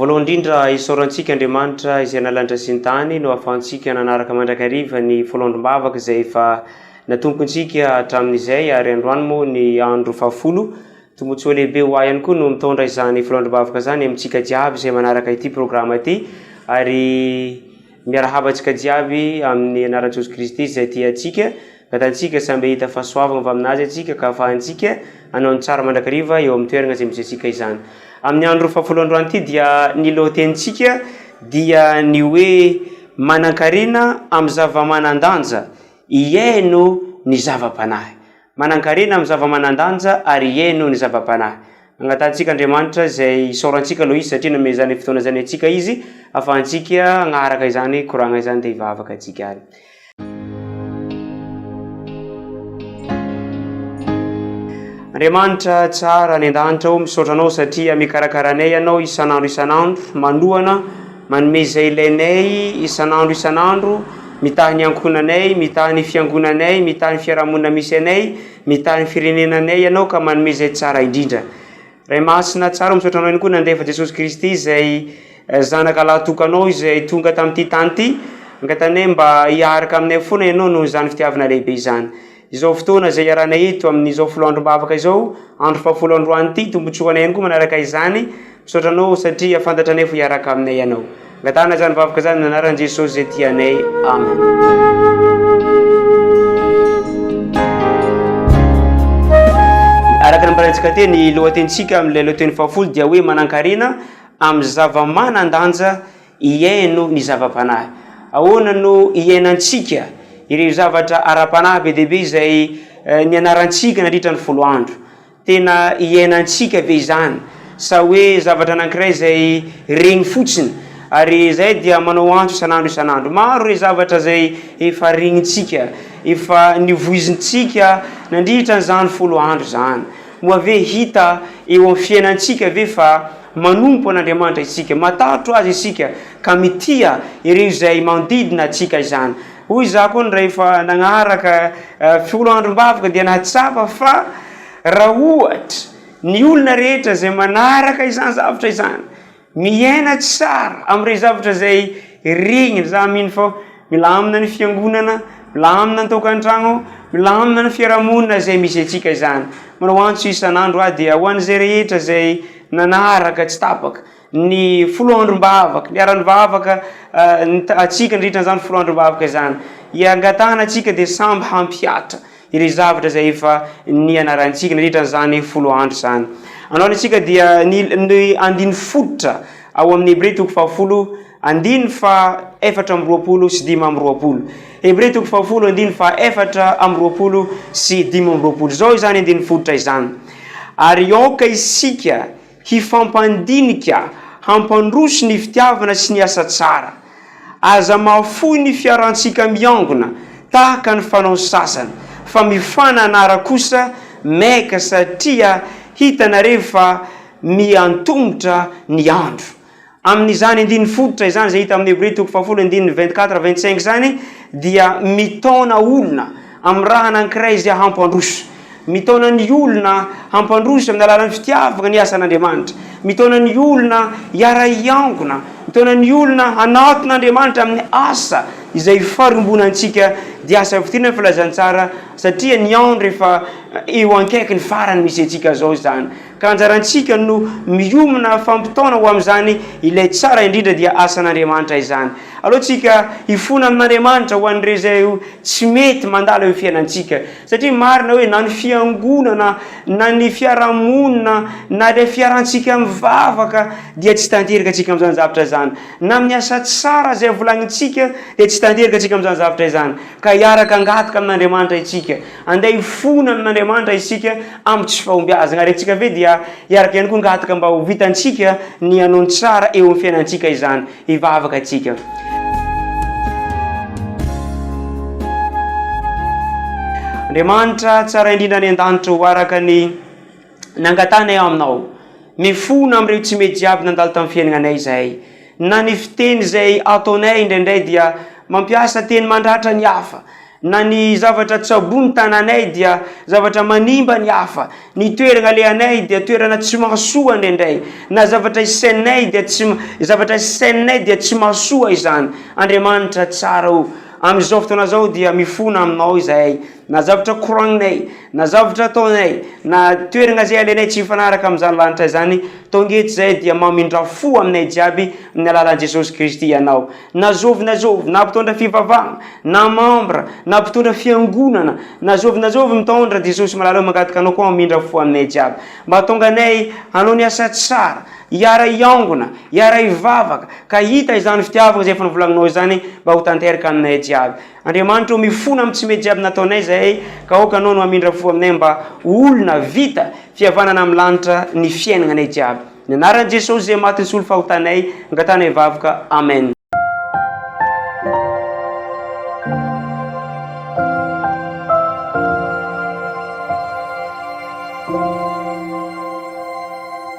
Voalohany indrindra, isaoran tsika Andriamanitra izay nalanitra sy ny tany no ahafahantsika nanaraka mandrakariva ny foloandrom-bavaka izay efa natompon tsika hatramin izay ary androany moa ny andro fahafolo. Tombotsoa lehibe ho ahy ihany koa no mitondra izany foloandrom-bavaka izany amin tsika jiaby izay manaraka ity programa ity ary Miarahaba antsika jiaby amin'ny anaran'i Jesosy Kristy izay tia antsika. Gatantsika samy hahita fahasoavana avy amin'Azy antsika ka afahantsika hanao ny tsara mandrakariva eo amin'ny toerana izay misy antsika izany. Amin'ny andro fahafolo androany ity dia ny lohatenintsika dia ny hoe manankarena amin'ny zava-manan-danja, hihaino ny zava-panahy. Manankarena amin'ny zava-manan-danja ary hihaino ny zava-panahy. Angatahantsika Andriamanitra izay isaorantsika aloha izy satria nomeny izany fotoana izany antsika izy ahafahantsika hagnaraka izany koragna izany dia hivavaka antsika ary. Andriamanitra tsara any an-danitra ô, misaotra Anao satria mikarakara anay Ianao isan'andro isan'andro, manohana, Manome izay ilainay isan'andro isan'andro, mitaha ny ankohonanay, mitaha ny fiangonanay, mitaha ny fiarahamonina misy anay, mitaha ny firenenanay Ianao ka manome izay tsara indrindra. Ray Masina tsara, misaotra Anao ihany koa nandefa Jesosy Kristy izay Zanaka lahatokanao izay tonga tamin'ity tany ity, angatanay mba hiaraka aminay foana Ianao noho izany fitiavana lehibe izany. Izao fotoana izay iarahanay eto amin'izao folo androm-bavaka izao, andro fahafolo androanyity, tombotsoanay ihany koa manaraka izany, misaotra anao satria fantatranay fa hiaraka aminay ianao. Angatahana izany vavaka izany amin'ny anaran'i Jesosy izay tia anay. Amen. Araka nambarantsika teny, ny lohatenintsika amin'ilay lohateny fahafolo dia hoe manankarena amin'ny zava-manan-danja Hihaino ny zava-panahy. Ahoana no hiainantsika ireo zavatra ara-panahy be dia be izay nianarantsika nandritra ny folo andro? Tena hiainantsika ve izany, sa hoe zavatra anankiray izay reny fotsiny, ary izay dia manao antso isan'andro isan'andro? Maro ireo zavatra izay efa renintsika, efa nivoizintsika nandritra an'izany folo andro izany. Moa ve hita eo amin'ny fiainantsika ve fa Manompo an'Andriamanitra isika, matahotra Azy isika, ka mitia ireo izay manodidina antsika izany. Hoy izaho koa ny rehefa nagnaraka folo andro am-bavaka dia nahatsapa fa raha ohatra ny olona rehetra izay manaraka izany zavatra izany, miaina tsara amin'ireo zavatra izay regniny, izaho mino fa Milamina ny fiangonana, milamina ny tokantragno, milamina ny fiarahamonina izay misy antsika izany. Manao antso isan'andro aho dia ho an'izay rehetra izay nanaraka tsy tapaka ny folo androm-bavaka, niharan'ny vavaka antsika nandritra an'izany folo androm-bavaka izany. Iangatahana antsika dia samby hampihatra ireo zavatra izay efa nianarantsika nandritra an'izany folo andro izany. Androany isika dia ny ny andininy fototra ao amin'ny Hebreo toko fahafolo Andininy faha efatra amby roapolo sy dimy amby roapolo. Hebreo toko fahafolo andininy faha efatra amby roapolo sy dimy amby roapolo. Izao izany andininy fototra izany, Ary aoka isika hifampandinika hampandroso ny fitiavana sy ny asa tsara. Aza mahafoy ny fiarahantsika miangona, tahaka ny fanaon'ny sasany, fa mifanana ara kosa maika, satria hitanareo fa miantomotra ny andro. Amin'izany andininy fototra izany izay hita amin'ny Hebrio toko fahafolo andininy vingt quatre vingt cinq izany dia mitaona olona amiraha anankiray izay hampandroso. Mitaona ny olona hampandroso amin'ny alalan'ny fitiavana ny asan'Andriamanitra. Mitaona ny olona hiara-hiangona. Mitaona ny olona hanatona Andriamanitra amin'ny asa izay farimbonantsika dia asa fitoriana ny filazantsara satria ny andro efa eo ankaiky ny farany misy antsika izao izany. Ka anjarantsika no miomina fampitaona ho amin'izany ilay tsara indrindra dia asan'Andriamanitra izany. Aleontsika hifona amin'Andriamanitra ho an'ireo izay tsy mety mandala eo fiainantsika. Satria marina hoe na ny fiangonana na ny fiarahamonina na ilay fiarantsika mivavaka dia tsy tanteraka antsika amin'izany zavatra izany. Na amin'ny asa tsara izay volanintsika dia tsy tanteraka antsika amin'izany zavatra izany. Ka hiaraka hangataka amin'Andriamanitra isika. Andeha hifona amin'Andriamanitra isika amin'ny tsy fahombiazana, ary antsika ve dia hiaraka ihany koa hangataka mba ho vitantsika ny hanao ny tsara eo amin'ny fiainantsika izany? Hivavaka isika. Andriamanitra tsara indrindra any an-danitra ô, araka ny. Nangatahanay aminao. Mifona amin'ireo tsy mety jiaby nandalo tamin'ny fiainanay izahay. Na ny fiteny izay ataonay indraindray dia mampiasa teny mandratra ny hafa. Na ny zavatra tsaboin'ny tananay dia zavatra manimba ny hafa. Ny toerana alehanay dia toerana tsy mahasoa indraindray. Na zavatra isainay dia tsy zavatra isainay dia tsy mahasoa izany. Andriamanitra tsara o! Amin'izao fotoana izao dia mifona aminao izahay. Na zavatra koragninay, na zavatra ataonay, na toerana izay alainay tsy mifanaraka amin'izany lanitra izany, tonga eto izahay dia mamindrà fo aminay jiaby amin'ny alalan'i Jesosy Kristy ianao. Na zovy na zovy, na mpitondra fivavahana, na mambra, na mpitondra fiangonana, na zovy na zovy mitondra, Jesosy malala ô mangataka anao koa hamindra fo aminay jiaby. Mba hatonga anay hanao ny asa tsara, hiara-hiangona, hiara-hivavaka, ka hita izany fitiavana izay efa novolagninao izany mba ho tanteraka aminay jiaby. Andriamanitra ô, mifona amin'ny tsy mety jiaby nataonay izahay, ka aoka Anao no hamindra fo aminay mba ho olona vita fihavanana amin'ny lanitra ny fiainagnanay jiaby. Ny anaran'i Jesosy izay maty nisolo fahotanay, angatanay vavaka. Amen.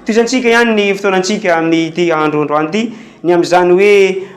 Tohizantsika ihany ny fotoanantsika amin'ity andro androany ity, ny amin'izany hoe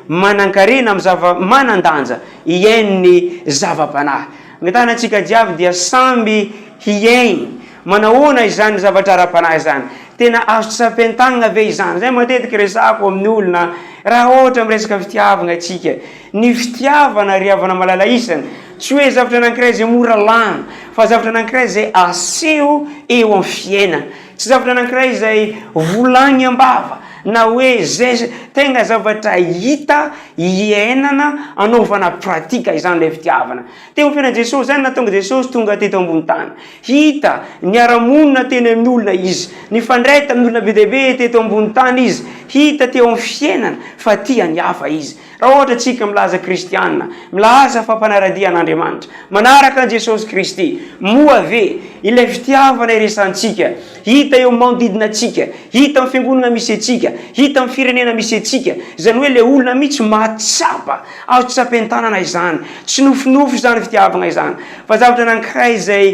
manan-karena amin'ny zava-manan-danja iain'ny zava-panahy. Angatahana antsika jiaby dia samby hiaina manahoana izany zavatra ara-panahy izany. Tena azo tsapain-tanana ve izany? Izay matetika resahako amin'ny olona raha ohatra miresaka fitiavana isika. Ny fitiavana ry havana malala isany, tsy hoe zavatra anankiray izay mora lany, fa zavatra anankiray izay aseho eo amin'ny fiainana. Tsy zavatra anankiray izay volagny am-bava na hoe zay tegna zavatra hita, iainana, anaovana pratika izany ilay fitiavana. Teo amin'ny fiainan'i Jesosy zany nahatonga Jesosy tonga teto ambony tany. Hita, niara-monina teny amin'ny olona izy, nifandray tamin'ny olona be dia be teto ambony tany izy, hita teo amin'ny fiainany fa tia ny hafa izy. Raha ohatra tsika milaza kristiana, milaza fa mpanaradia an'Andriamanitra, manaraka an'i Jesosy Kristy, moa ve ilay fitiavana iresantsika, hita eo amin'ny manodidina antsika, hita amin'ny fiangonana misy antsika, hita amin'ny firenena misy antsika, izany hoe ilay olona mihitsy mahatsapa, azo tsapain-tanana izany, tsy nofinofy izany fitiavagna izany, fa zavatra anankiray izay,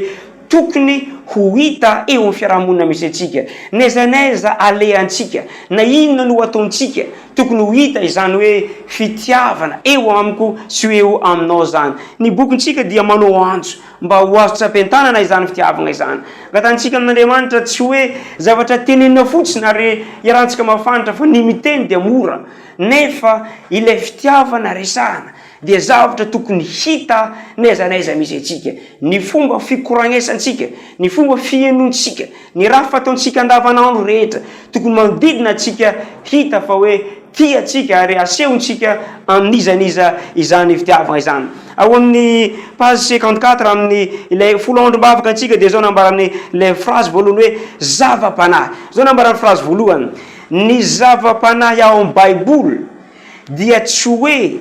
Tokony ho hita eo amin'ny fiarahamonina misy antsika. N'aiza n'aiza alehantsika, na inona no ataontsika, tokony ho hita izany hoe fitiavana eo amiko sy ho eo aminao izany. Ny bokintsika dia manao antso mba ho azo tsapain-tanana izany fitiavagna izany. Angatahantsika amin'Andriamanitra tsy hoe zavatra tenenina fotsiny ary iarahantsika mahafantra fa ny miteny dia mora nefa ilay fitiavana resahana dia zavatra tokony hita n'aiza n'aiza misy antsika, ny fomba fikoragnesantsika, ny fomba fihenontsika, ny raha fataontsika andavanandro rehetra, tokony manodidina antsika hita fa hoe tia antsika ary asehontsika amin'iza n'iza izany fitiavana izany. Ao amin'ny page cinquante quatre amin'ny ilay folo androm-bavaka antsika dia izao nambarany ilay phrase voalohany hoe zava-panahy, izao nambarany phrase voalohany, ny zava-panahy ao amin'ny baiboly, dia tsy hoe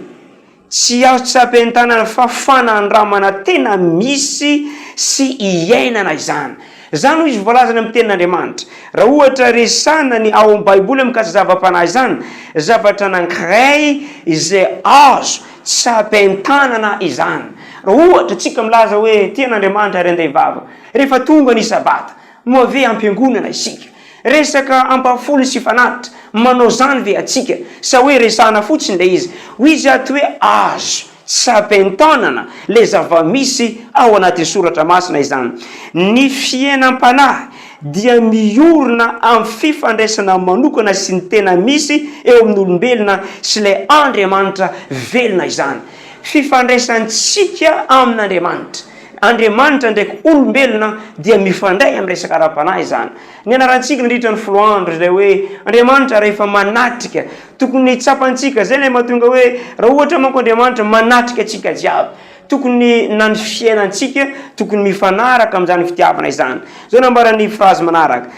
tsy azo tsapain-tanana fa fanandramana tena misy sy iainana izany. Izany hoy izy voalaza any amin'ny Tenin'Andriamanitra. Raha ohatra resahina ny ao amin'ny Baiboly amin'ny mikasika zava-panahy izany, zavatra anankiray izay azo tsapain-tanana izany. Raha ohatra isika milaza hoe tia an'Andriamanitra ry andehy vava, rehefa tonga ny Sabata, Moa ve ampiangonana isika? Resaka ampahafony sy fanatitra, manao izany ve atsika? Sa hoe resahana fotsiny ilay izy? Hoy izy ato hoe azo tsapain-tanana ilay zava-misy ao anatin'ny soratra masina izany. Ny fiainam-panahy dia miorina amin'ny fifandraisana manokana sy ny tena misy eo amin'ny olombelona sy ilay Andriamanitra velona izany. Fifandraisantsika amin'Andriamanitra. Andriamanitra ndraiky olombelona dia mifandray amin'ny resaka ara-panahy izany. Nianarantsika nandritra ny folo andro izay hoe Andriamanitra rehefa manatrika. Tokony tsapantsika izay ilay mahatonga hoe raha ohatra manko Andriamanitra manatrika antsika jiaby. Tokony na ny fiainantsika tokony mifanaraka amin'izany fitiavana izany. Izao nambaran'ny frazy manaraka,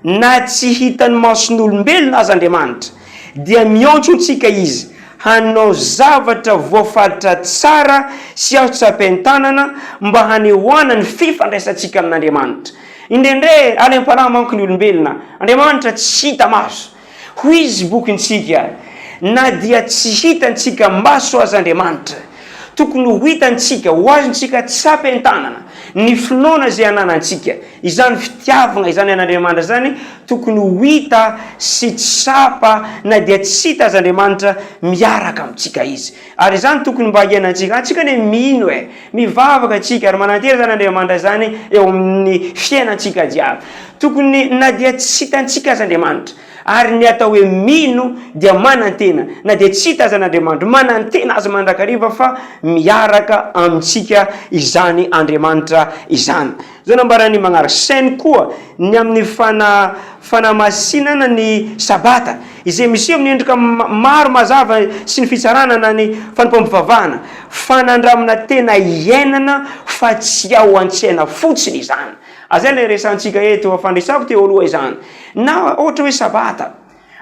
Na tsy hitan'ny mason'olombelona aza Andriamanitra, dia miantso antsika Izy hanao zavatra voafaritra tsara sy azo tsapain-tanana mba hanehoana ny fifandraisantsika amin'Andriamanitra. Indraindray alem-panahy manko ny olombelona, Andriamanitra tsy hita maso. Hoy izy bokintsika, Na dia tsy hitantsika maso aza Andriamanitra, Tokony ho hitantsika, ho azontsika tsapa entanana, ny finoana izay ananantsika. Izany fitiavagna izany an'Andriamanitra izany tokony ho hita sy tsapa na dia tsy hita aza Andriamanitra miaraka amintsika Izy. Ary izany tokony mba hiainantsika. Antsika anie mino e! Mivavaka antsika ary manantena izany Andriamanitra izany eo amin'ny fiainantsika jiaby. Tokony na dia tsy hitantsika aza Andriamanitra. Ary ny atao hoe mino dia manantena, na dia tsy hita aza an'Andriamanitro. Manantena Azy mandrakariva fa miaraka amintsika izany Andriamanitra izany. Izao no ambaran'ny mañaraka, Saino koa ny amin'ny fana, fanamasinana ny Sabata, izay miseho amin'ny endrika maro mazava sy ny fitsarana na ny fanompoam-pivavahana. Fanandramana tena iainana fa tsy ao an-tsaina fotsiny izany. Ah zay ilay resahantsika eto fa fandresako teo aloha izany na ohatra hoe sabata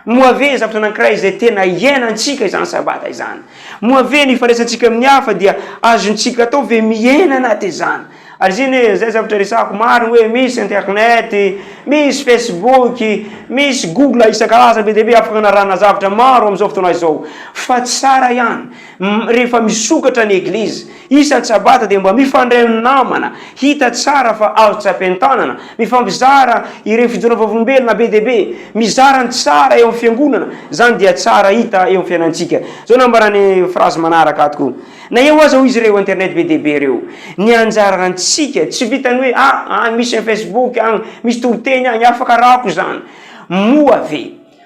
moa ve zavatra anankiray izay tena iainantsika izany sabata izany moa ve ny ifandraisantsika amin'ny hafa dia azontsika atao ve miaina anaty izany ary zay ne zay zavatra resako maro hoe misy internet misy facebook misy google isan-karazany be dia be afaka anarahana zavatra maro amin'izao fotoana izao fa tsara ihany Rehefa misokatra ny eglizy isan tsabata dia mba mifandray amin'ny namana, hita tsara fa azo tsy ampientanana, mifampizara ireo fijoroana vavolombelona be dia be, mizara ny tsara eo amin'ny fiangonana, izany dia tsara hita eo amin'ny fiainantsika. Izao no ambaran'ny frazy manaraka ato koa, Na eo aza hoy izy ireo internet be dia be ireo, ny anjarantsika tsy vitan'ny hoe ah, any misy ny facebook agny, misy toriteny agny, afaka arahako izany moa ve?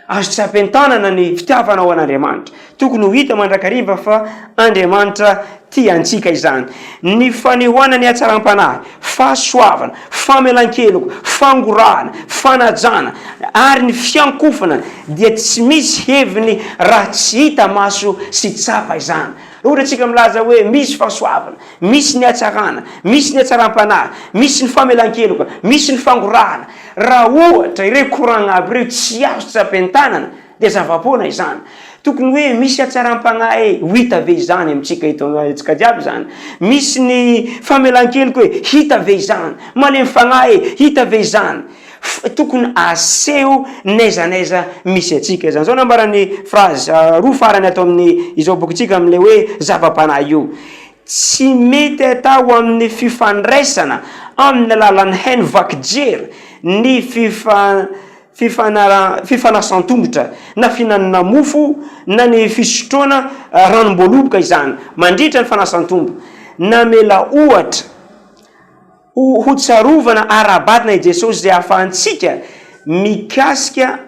Azo tsy ampientanana ny fitiavana ho an'Andriamanitra. Tokony ho hita mandrakariva fa Andriamanitra tia antsika izany. Ny fanehoana ny hatsaram-panahy, fahasoavana, famelan-keloka, fangorahana, fanajana, ary ny fiankofana dia tsy misy heviny raha tsy hita maso sy tsapa izany. Raha ohatra isika milaza hoe misy fahasoavana, Misy ny hatsarana, misy ny hatsaram-panahy, misy ny famelan-keloka, misy ny fangorahana. Raha ohatra ireo koragna aby ireo tsy azo tsapain-tanana dia zava-poana izany. Tokony hoe misy hatsaram-panahy ho hita ve izany amintsika eto amintsika jiaby izany? Misy ny famelan-keloka hoe hita ve izany? Malemy fagnahy e, hita ve izany? Tokony aseho n'aiza n'aiza misy antsika izany. Izao no ambaran'ny frazy roa farany ato amin'izao bokintsika amin'ilay hoe zava-panahy io, Tsy mety atao amin'ny fifandraisana amin'ny alalan'ny haino vaky jery ny fifa fifanara fifanasan-tongotra na fihinanana mofo na ny fisotroana ranom-boaloboka izany mandritra ny fanasan-tombo. Namela ohatra. Ho hotsarovana ara-batana i Jesosy izay ahafahantsika mikasika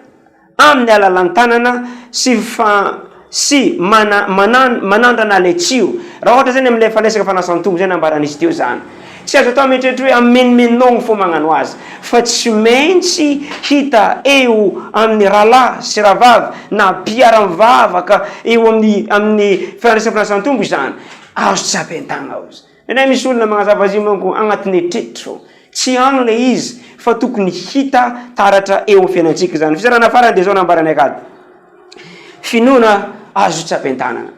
amin'ny alalan'ny tanana sy fa sy mana mana manandrana ilay tsiro. Raha ohatra izany amin'ilay fandraisaka fanasan-tombo izay nambaran'izy teo izany. Tsy azo atao mieritreritra hoe hamenomenonao ny fo magnano azy fa tsy maintsy hita eo amin'ny rahalahy sy rahavavy na mpiara-mivavaka eo amin'ny amin'ny fandraisana fanasan-tombo izany. Azo tsapain-tagna aho izany. Nenay misy olona magnazava azy io manko agnatiny etretra o! Tsy agny le izy fa tokony hita taratra eo am fiainantsika izany. Fizarana farany dia zao nambaranay kady. Finoana azo tsapain-tanana.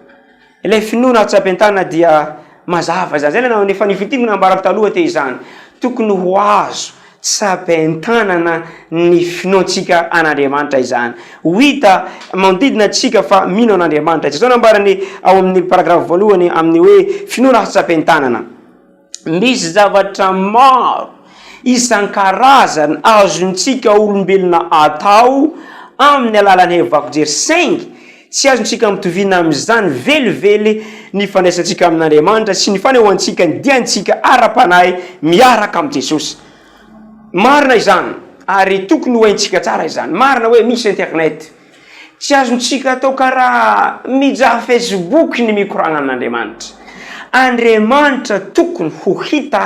Ilay finoana tsapain-tanana dia mazava izany. Zay nanao efa nifintiniko nambarako taloha teo izany. Tokony ho azo Sabain-tanana ny finoantsika an'Andriamanitra izany. Ho hita manodidina antsika fa mino an'Andriamanitra izy. Izao no ambarany ao amin'ny paragrafy voalohany amin'ny hoe finoana hatsapain-tanana, Misy zavatra maro isan-karazany azontsika olombelona atao amin'ny alalan'ny hevi-bako jery, saingy Tsy azontsika ampitovina amin'izany velively ny fandraisantsika amin'Andriamanitra sy ny fanehoantsika ny diantsika ara-panahy miaraka amin'i Jesosy. Marina izany, ary tokony ho haintsika tsara izany. Marina hoe misy Internet. Tsy azontsika atao karaha mijaha Facebook ny mikoragna amin'Andriamanitra. Andriamanitra tokony ho hita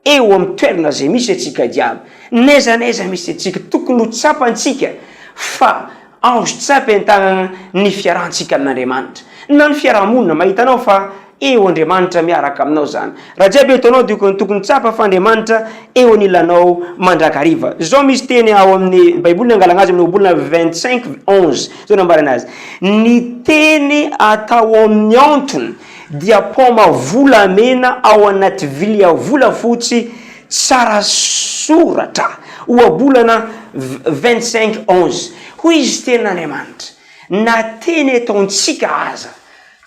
Eo amin'ny toerana izay misy antsika jiaby, n'aiza n'aiza misy antsika, tokony ho tsapantsika fa azo tsapy an-tanana ny fiarahantsika amin'Andriamanitra, na ny fiaraha-monina. Mahita anao fa eo Andriamanitra miaraka aminao izany. Raha jiaby eto anao dia tokony tsapa fa Andriamanitra eo anilanao mandrakariva. Izao misy teny ao amin'ny Baiboly, nangalana azy amin'ny Ohabolana vingt cinq onze, izao nambarany azy, Ny teny atao amin'ny antony, dia paoma volamena ao anaty vilia volafotsy tsara soratra, ohabolana vingt cinq onze. Hoy izy, Tenin'Andriamanitra, na teny eto amintsika aza,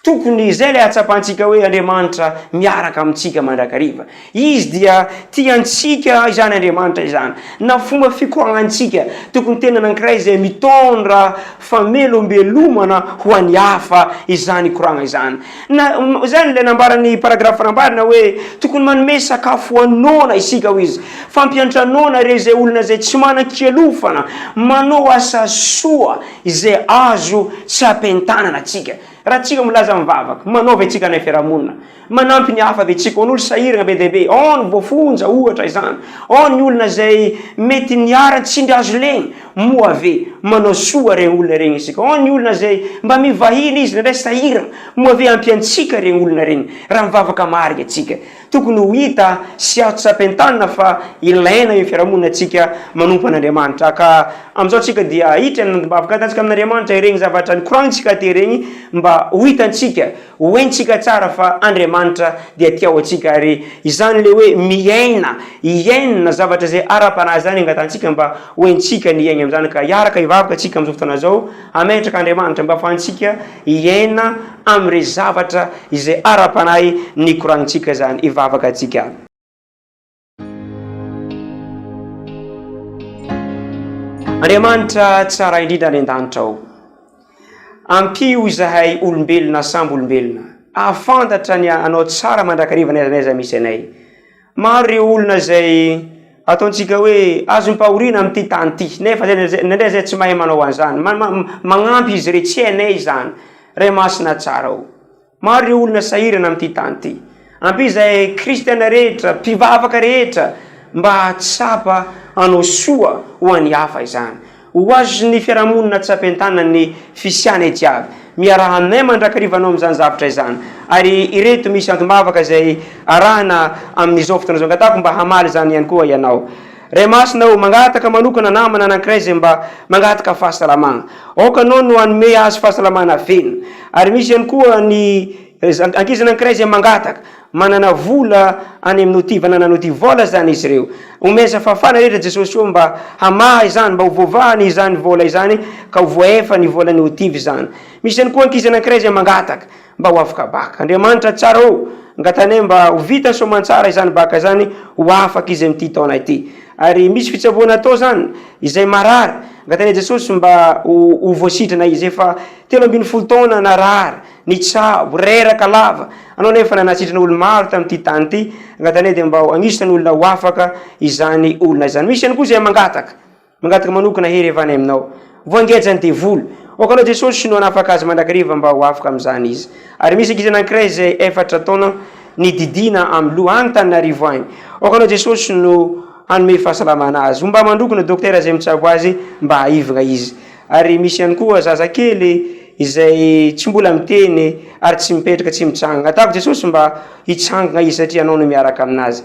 tokony izay ilay hatsapantsika hoe Andriamanitra miaraka amintsika mandrakariva. Izy dia tia antsika izany Andriamanitra izany, na fomba fikoahantsika. Tokony tena nankiray izay mitondra famelombelomana ho an'ny hafa izany ikoragna izany. Na, izany ilay nambaran'ny paragraphe nambarana hoe, tokony manome sakafo ho an'ny noana isika, hoy izy. Fampiantra noana ireo izay olona izay tsy manan-kialofana manao asa soa izay azo tsy ampientanana antsika. Raha tsika milaza mivavaka, manaova etsika anay fiarahamonina. Manampy ny hafa ve tsy koa an'olo sahiragna be dia be? Ao ny voafonja ohatra izany, ao ny olona izay mety niharan'ny tsindry azo legna, moa ve manao soa regny olona regny isika? Ao ny olona izay mba mivahiny izy indraindray sahiragna, moa ve ampiantsika regny olona regny raha mivavaka marigny antsika? Tokony ho hita sy azo tsapain-tanana fa ilaina eo fiarahamonina antsika manompo an'Andriamanitra ka amizao tsika dia ahitra ny andim-bavaka ataontsika amin'Andriamanitra iregny zavatra nikoragnintsika teo regny mba ho hitantsika Ho haintsika tsara fa Andriamanitra dia tia antsika ary izany ilay hoe miaina, hiaina zavatra izay ara-panahy izany angatantsika mba ho haintsika ny hiaina amin'izany. Ka hiaraka hivavaka isika amin'izao fotoana izao, hametraka Andriamanitra mba hahafahantsika hiaina amin'irey zavatra izay ara-panahy nikoranintsika izany. Hivavaka isika. Andriamanitra tsara indrindra any an-danitra ao, ampio izahay olombelona sambo olombelona hahafantatra ny Anao tsara mandrakariva n'aiza n'aiza misy anay. Maro ireo olona izay ataontsika hoe azom-pahoriana amin'ity tany ity, nefa indraindray izay tsy mahay manao an'izany, magnampy izy ireo, tsy hainay izany, Ray Masina tsara o. Maro ireo olona sahirana amin'ity tany ity. Ampio izay kristiana rehetra, mpivavaka rehetra, mba hahatsapa hanao soa ho an'ny hafa izany. Ho azon'ny fiarahamonina atsapy an-tanana ny fisianay jiaby. Miaraha aminay mandrakariva anao amin'izany zavatra izany. Ary ireto misy antom-bavaka izay arahina amin'izao fotoana izao. Angatahako mba hamaly izany ihany koa ianao. Ray Masina ô, mangataka manokana namana anankiray izay mba mangataka fahasalamana. Aoka Anao no hanome azy fahasalamana velona. Ary misy ihany koa ny ankizy anankiray izay mangataka, manana vola any amin'ny OTIVA na nanao OTIVOL izany izy ireo. Omeo izay fahafahana rehetra Jesosy ô mba hamaha izany, mba ho voavahany izany vola izany ka ho voaefa ny volan'ny OTIVA izany. Misy ihany koa ankizy anankiray izay mangataka, mba ho afaka baka. Andriamanitra tsara ô! Angatanay mba ho vita soamantsara izany baka izany ho afaka izy amin'ity taona ity. Ary misy fitsaboana atao izany, izay marary, angatanay Jesosy mba ho ho voasitrana izy. Efa telo ambin'ny folo taona narary, nitsabo, reraka lava, anao nefa nanasitrana olo-maro tamin'ity tany ity, angatanay dia mba ho agnisan'ny olona ho afaka izany olona izany. Misy ihany koa izay mangataka. Mangataka manokana hery avy any aminao. Voangeja ny devoly. O kanao Jesosy no hanafaka azy mandrakariva mba ho afaka amin'izany izy. Ary misy ankizy anankiray izay efatra taona ny didiana amin'ny loha any Taninarivo any. O kanao Jesosy no hanome fahasalamana azy. Homba mandroko ny dokotera izay mitsabo azy mba hahivgna izy. Ary misy ihany koa zaza kely izay tsy mbola miteny ary tsy mipetraka tsy mitsangana. Atako Jesosy mba hitsangana izy satria Ianao no miaraka aminazy.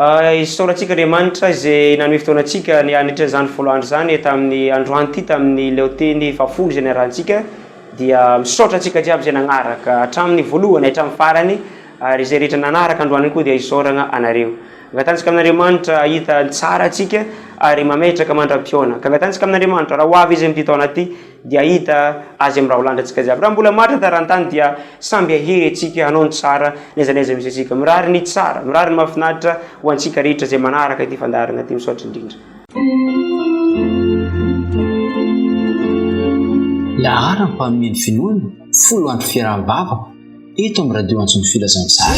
Isaorantsika Andriamanitra izay nanome fotoana antsika ny hanetry izany folo andro izany tamin'ny androany ity tamin'ny leoteny fahafolo izay niarahantsika dia misaotra antsika jiaby izay nanaraka hatramin'ny voalohany hatramin'ny farany ary izay rehetra nanaraka androany koa dia isaoragna anareo angatantsika amin'Andriamanitra hahita ny tsara antsika ary mametraka mandram-pihaona ka angatantsika amin'Andriamanitra raha ho avy izy amin'ity taona ity dia hahita Azy amin'ny raholanitra antsika jiaby. Raha mbola matra taran-tany dia samby hahery antsika hanao ny tsara na aiza na aiza misy antsika. Mirary ny tsara, mirary ny mahafinaritra ho antsika rehetra izay manaraka ity fandaharana ity. Misaotra indrindra. Laharam mpanomey ny finoana folo andro fiaraha bavaka eto amin'ny radio antso ny filazantsara.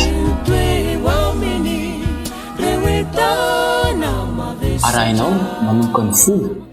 Arahinao manomboka ny folo.